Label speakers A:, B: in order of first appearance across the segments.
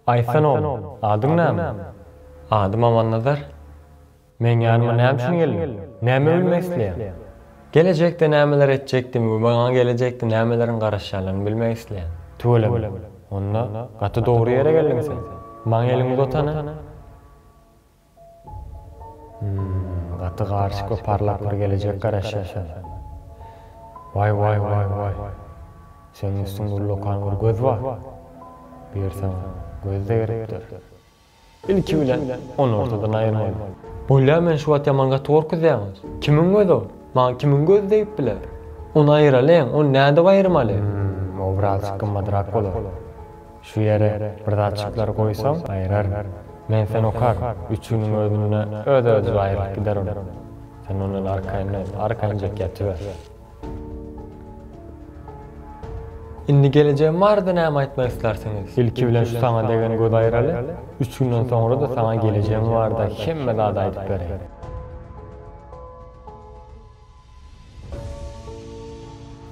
A: Aýtsan oglu, adyň näme? Adym Amannazar. Meň ýanyma näme üçin geldiň? Näme bilmek isleýäň? Gelejekde nämeler etjekdigimi we maňa gelejekde nämeleriň garaşýandygyny bilmek isleýän. Tüweleme. Onda, gaty dogry ýere geldiň sen. Maňa eliňi uzat hany. Hmmm gaty garyşyk we parlak bir gelejek garaşýar şonda. Waý waý waý waý. Seniň üstüňde uly okan bir göz bar. Bu ýer saňa göz-de gerekdir. Ilki bilen ony ortadan aýyrmaly. Bolýa men şu wagt ýaman gaty gorkuzýaň. Kimiň gözi ol? Maňa kimiň gözi degip biler? Ony aýyralyň, ony nädip aýyrmaly? Hmmm obrazçyk gymmadrak bolar. Şu ýere bir zatjyklary goýsaň, aýyraryn. Men sen okar, üç günüň özünde öz-özübe aýrylyp gider ol. Sen ondan arkaýyn däl, arkaýynjak ýatyber. Indi gelejegim barada näme aýtmak islarsiňiz? Ilki bilen şu saňa degen göz aýyraly, üç günden soňra-da saňa gelejegim barada hemme zady aýdyp bereýin.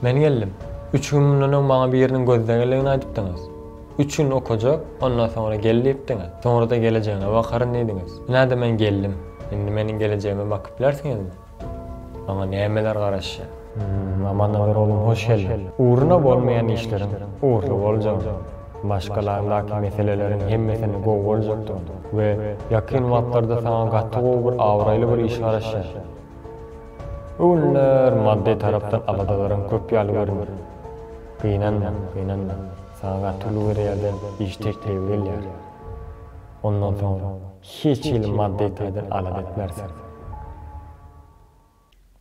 A: Men geldim. Üç gün mundan öň maňa biriniň gözleňňiligini aýdypdyňyz. Üç gün okajak, ondan soňra gel diýipdiňiz. Soňra-da gelejegine bakaryn diýdiňiz. Ine-de men geldim. Indi meniň gelejegime bakyp bilersiňizmi? Maňa nämeler garaşýar? Amannabat oglum, hoş geldiň. Ugruna bolmaýan işleriň ugurly boljagyny, maşgalaňdaky meseleleriň hemmesiniň gowy boljakdygyny we ýakyn wagtlarda saňa gaty gowy bir abraýly bir iş garaşýar. Bu günler maddy tarapdan aladalarym köp ýaly görünýär. Gynanma, gynanma. Saňa gaty uly bir ýerden iş teklibi gelýär. Ondan soň hiç hili maddy taýdan alada etmeris.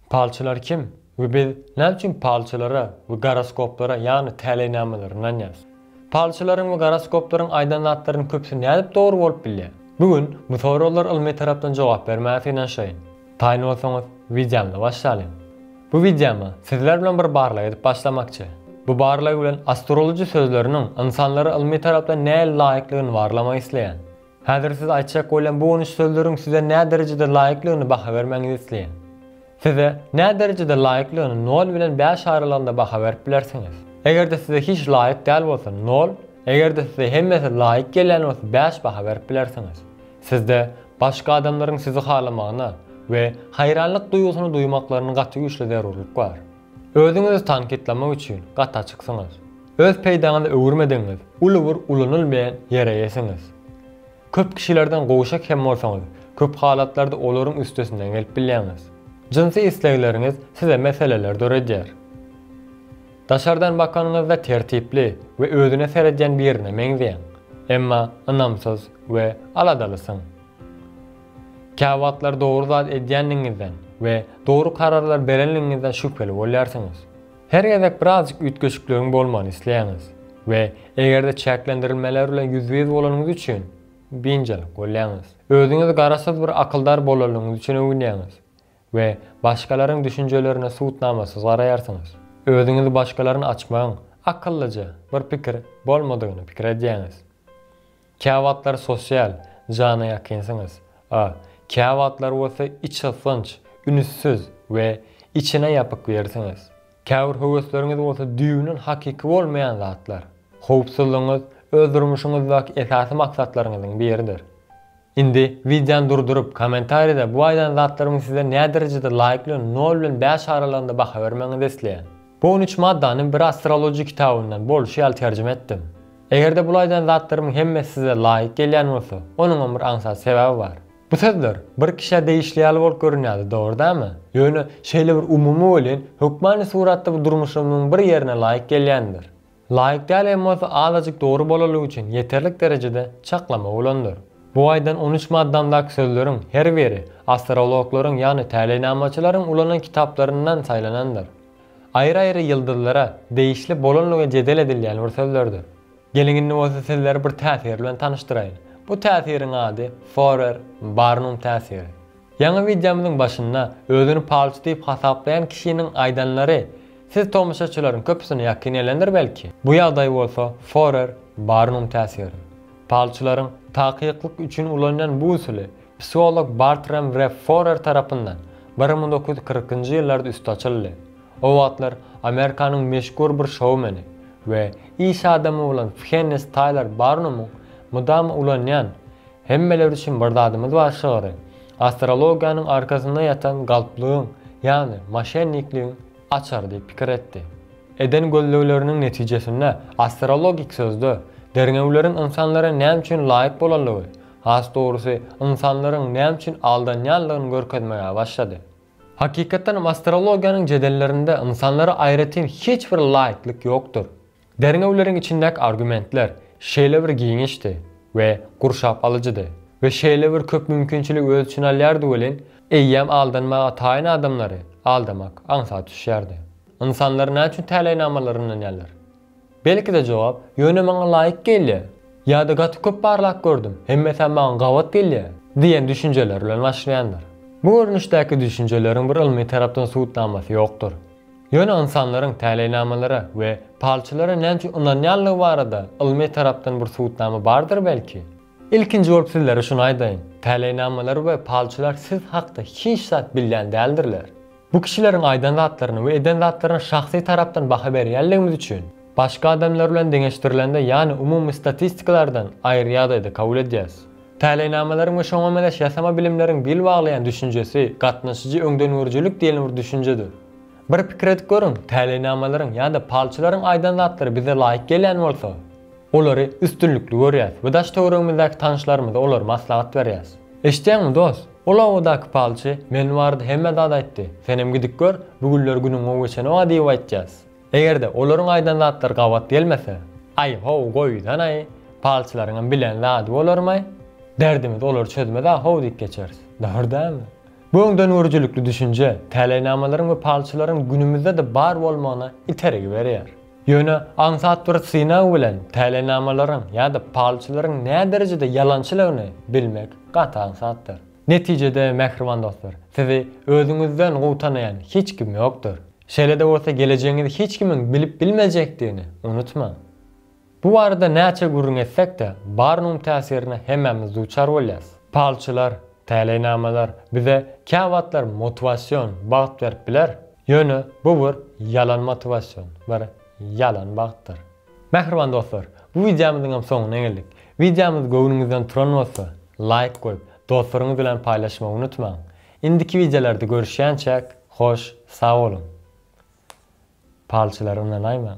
A: Palçylar kim we biz näme üçin palçylara we goroskoplara, ýagny täleýnamalary ynanýarys? Palçylaryň we goroskoplaryň aýdan zatlarynyň köpüsi nädip dogry bolup bilýär? Bu gün bu soraglar ylmy tarapdan jogap bermäge synanyşaýyn. Taýyn bolsaňyz, wideomy başlalyň. Bu wideomy sizler bilen bir barlag edip başlamakçy. Bu barlag bilen astrology sözleriniň ynsanlary ylmy tarapdan nähili laýyklygyny barlamak isleýän. Häzir size aýtjak bolýan bu on üç sözleriň size näderejede laýyklygyny baha bermäňizi isleýän. Size näderejede laýyklygyny nol bilen bäş aralygynda baha berip bilersiňiz. Eger-de size hiç laýyk däl bolsa, nol, eger-de size hemmesi laýyk gelýän bolsa bäş baha berip bilersiňiz. Sizde başga adamlaryň sizi halamagyna we haýranlyk duýgusyny duýmaklaryny gaty güýçli zerurlyk bar. Özüňizi tankytlamak üçin gaty açyksyňyz. Öz peýdaňyza öwürmedigiňiz uly bir ulanylmaýan ýere eýesiňiz. Köp kişilerden gowşak hem bolsaňyz, köp halatlarda olaryň üstesinden gelip bilýäňiz. Jynsy islegleriňiz size meseleler döredýär. Daşardan bakanyňyzda tertipli we özüne seredýän birine meňzeýäň, emma ynamsyz we aladalysyň. Käwagtlar dogry zat edýändigiňizden we dogry kararlar berendigiňizden şübheli bolýarsyňyz. Her gezek birazjyk üýtgeşikligiň bolmagyny isleýäňiz we eger-de çäklendirilmeler bilen ýüzbe-ýüz bolanyňyz üçin biynjalyk bolýaňyz. Özüňizi garaşsyz bir akyldar bolandygyňyz üçin öwünýäňiz we başgalaryň düşünjelerine subutnamasyz garaýarsyňyz. Özüňizi başgalaryn açmagyň akyllyja bir pikir bolmadygyny pikir edýäňiz. Käwagtlar sosial jana ýakynsyňyz, a käwagtlar bolsa içgysgynç, ünüssiz we içine ýapyk birisiňiz. Käbir höwesleriňiz bolsa düýbünden hakyky bolmaýan zatlar. Howpsuzlygyňyz öz durmuşyňyzdaky esasy maksatlaryňyzyň biridir. Indi wideony durduryp, kommentariýada bu aýdan zatlarymyň size näderejede laýyk bilen nol bilen bäş aralygynda baha bermegiňizi isleýän. Bu on üç maddany bir astrologiýa kitabyndan bolşy ýaly terjime etdim. Eger-de bul aýdan zatlarymyň hemmesi size laýyk gelýän bolsa, onuňam bir aňsat sebäbi bar. Bu sözler bir kişä degişli ýaly bolup görünýärdi, dogry dämi? Ýöne şeýle bir umumy welin, hökmany suratda bu durmuşymyzyň bir ýerine laýyk gelýändir. Laýyk däl hem bolsa azajyk dogry bolalygy üçin ýeterlik derejede çaklama bolandyr. Bu aýdan on üç maddamdaky sözleriň her biri astrologlaryň ýagny täleýnamaçylaryň ulanan kitaplaryndan saýlanandyr. Aýry-aýry ýyldyzlara degişli bolanlygy jedel edilýän bir sözlerdir. Geliň indi bolsa sizleri bir täsir bilen tanyşdyraýyn. Bu täsiriň ady Forer, Barnum täsiri. Ýaňy wideomyzyň başynda özüni palçy diýip hasaplaýan kişiniň aýdanlary siz tomaşaçylaryň köpüsine ýakyn gelendir belki? Bu ýagdaý bolsa Forer, Barnum täsiri. Palçylaryň takyklyk üçin ulanýan bu usuly Psiholog Bartram we Forer tarapyndan bir müň dokuz ýüz kyrkynjy ýyllarda üsti açyldy. O wagtlar Amerikanyň meşhur bir şoumeni we iş adamy bolan Fhennes Taýlar Barnumyň mydama ulanýan Hemmeler üçin bir zadymyz bar şygry astrologiýanyň arkasynda ýatan galplygyň, ýagny moşennikligiň açary diýip pikir etdi. Eden gözlegleriniň netijesinde astrologik sözde derňewleriň ynsanlara näme üçin laýyk bolanlygy, Has dogrusy, ynsanlaryň näme üçin aldanýanlygyny görkezmäge başlady. Hakykatdan hem astrologiýanyň jedellerinde ynsanlara aýratyn hiç bir laýyklyk ýokdur. Derňewleriň içindäki argumentler şeýle bir giňişdi we gurşap alyjydy we şeýle bir köp mümkinçiligi öz içine alýardy welin, eýýäm aldanmaga taýyn adamlary aldamak aňsat düşýärdi. Ynsanlar näçün täleýnamalary ynanýarlar? Belki-de jogap, ýöne maňa laýyk gelýär, ýa-da gaty köp barlap gördüm, hemmesem maňa gabat gelýär diýen düşünjeler bilen başlaýandyr. Bu görnüşdäki düşünjeleriň bir ylmy tarapdan subutnamasy ýokdur. Ýöne ynsanlaryň täleýnamalara we palçylara nämüçin ynanýanlygy barada ylmy tarapdan bir subutnama bardyr belki? Ilkinji bolup sizlere şuny aýdaýyn, täleýnamalar we palçylar siz hakda hiç zat bilýän däldirler. Bu kişileriň aýdan zatlaryna we eden zatlaryna şahsy tarapdan baha berýänligimiz üçin, başga adamlar bilen deňeşdirilende ýany umumy statistikalardan aýry ýagdaýda kabul edýäs. Täleýnamalaryň we şoňa mezeş ýasama bilimleriň bil baglaýan düşünjesi gatnaşyjy öňdengörüjilik diýlen bir düşünjedir. Bir pikir edip görüň, täleýnamalaryň ýa-da palçylaryň aýdan zatlary bize laýyk gelýän bolsa, olary üstünlikli görýäs we daş-töweregimizdäki tanyşlarymyza olary maslahat berýäs. Eşitýäňmi, dost? Ol obadaky palçy, Men barada hemme zat aýtdy. Senem gidip gör, bu günler günüň gowy geçenoga diýip aýtýas. Eger-de olaryň aýdan zatlary gabat gelmese, Aý-how, goýsan-aý, palçylaryňam bilen zady bolarm-aý. Derdimizi olar çözmez-ä how diýip geçeris. Dogry dälmi? Bu öňdengörüjilikli düşünje, täleýnamalaryň we palçylaryň günümizde-de bar bolmagyna itergi berýär. Ýöne aňsat bir synag bilen täleýnamalaryň ýa-da palçylaryň näderejede ýalançylygyny bilmek gaty aňsatdyr. Netijede, mähriban dostlar, sizi özüňizden gowy tanaýan hiç kim ýokdur. Şeýle-de bolsa gelejegiňizi hiç kimiň bilip bilmejekdigini unutmaň. Bu barada näçe gürrüň etsek-de, barynyň täsirine hemmämiz duçar bolýas. Palçylar, Täleýnamalar bize käwagtlar motiwasion bagt berip biler, ýöne bu bir ýalan motiwasion, bir ýalan bagtdyr. Mähriban dostlar, bu wideomyzyň hem soňuna geldik. Wideomyz göwnüňizden turan bolsa, laýk goýup, dostlaryňyz bilen paýlaşmagy unutmaň. Indiki wideolarda görüşýänçäk, hoş sag boluň. Palçylary ynanaýmaň.